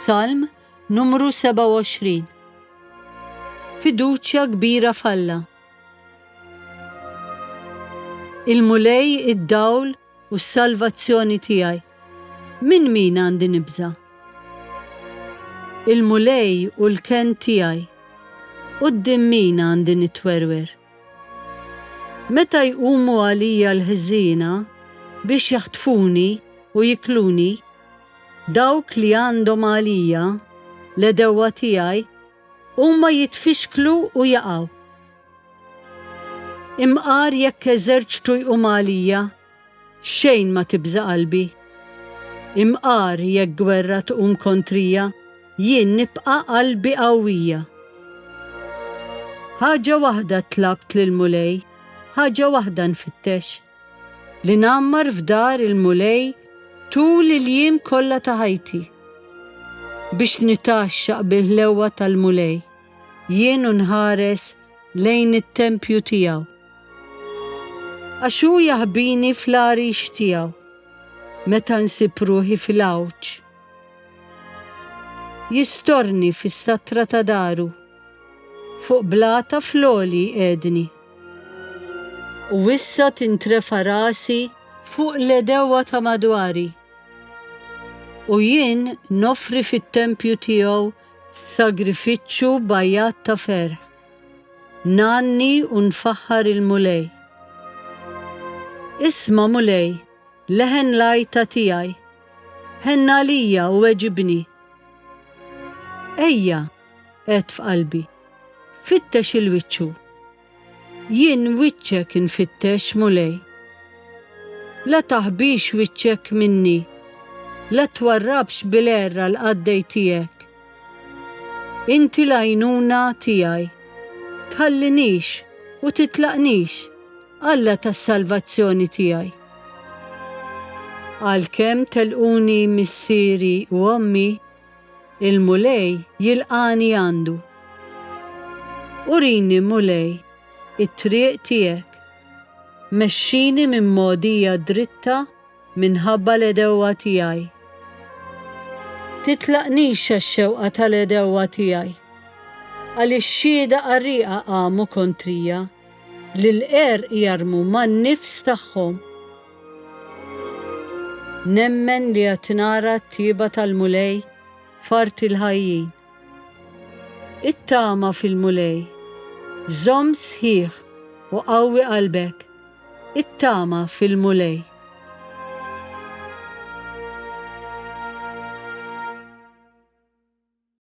Salm numru 27 Fiduċja kbira falla Il-mulej id-dawl u s-salvazzjoni tiegħi. Min min għandi nibża? Il-mulej u l-ken tiegħi. Qudiem min għandi nitwerwer? Meta jqumu għalija l-ħżiena biex jaħtfuni u jikluni, dawk li għandhom għalija, l-għedewwa tiegħi, huma jitfixklu u jaqgħu. Imqar jekk eżerċtu jqum għalija Xejn ma tibża' qalbi. Imqar jekk gwerra tqum kontrija, jien nibqa' qalbi qawwija. Ħaġa waħda tlabt lill-Mulej, ħaġa waħda nfittex, li ngħammar f'dar il-Mulej tul il-jiem kollha ta' ħajti, biex nitgħaxxaq bil-ħlewwa tal-Mulej. Jien u nħares lejn it-tempju tiegħu. Għax hu jaħbini fl-għarix tiegħu meta nsib ruħi fil-għawġ. Jistorni fis-satra ta' daru, fuq blata fl-għoli jqiegħdni. U issa tintrefa' rasi fuq l-għedewwa ta' madwari. U jien noffri fit-tempju tiegħu Sagrifiċċju b'għajjat ta' ferħ. Ngħanni u nfaħħar il-Mulej. Isma' Mulej, leħen l-għajta tiegħi, ħenn għalija u weġibni. Ejja, għedt f'qalbi, fittex il-wiċċu. Jien wiċċek infittex, Mulej. La taħbix wiċċek minni, la twarrabx bil-għerra l-qaddej tiegħek. Inti l-għajnuna tiegħi. Tħallinix u titlaqnix, Alla tas-salvazzjoni tiegħi. Għalkemm telquni missieri u ommi, Il-Mulej jilqagħni għandu. Urini, Mulej, it-triq tiegħek. Mexxini minn mogħdija dritta minħabba l-għedewwa tiegħi. Titlaqnix għax-xewqa tal-għedewwa tiegħi. Għaliex xhieda qarrieqa qamu kontrija, li l-għerq jarmu man-nifs tagħhom. Nemmen li għad nara t-tjieba tal-Mulej f'art il-ħajjin. It-tama fil-Mulej. Żomm sħiħ u qawwi qalbek. It-tama fil-Mulej.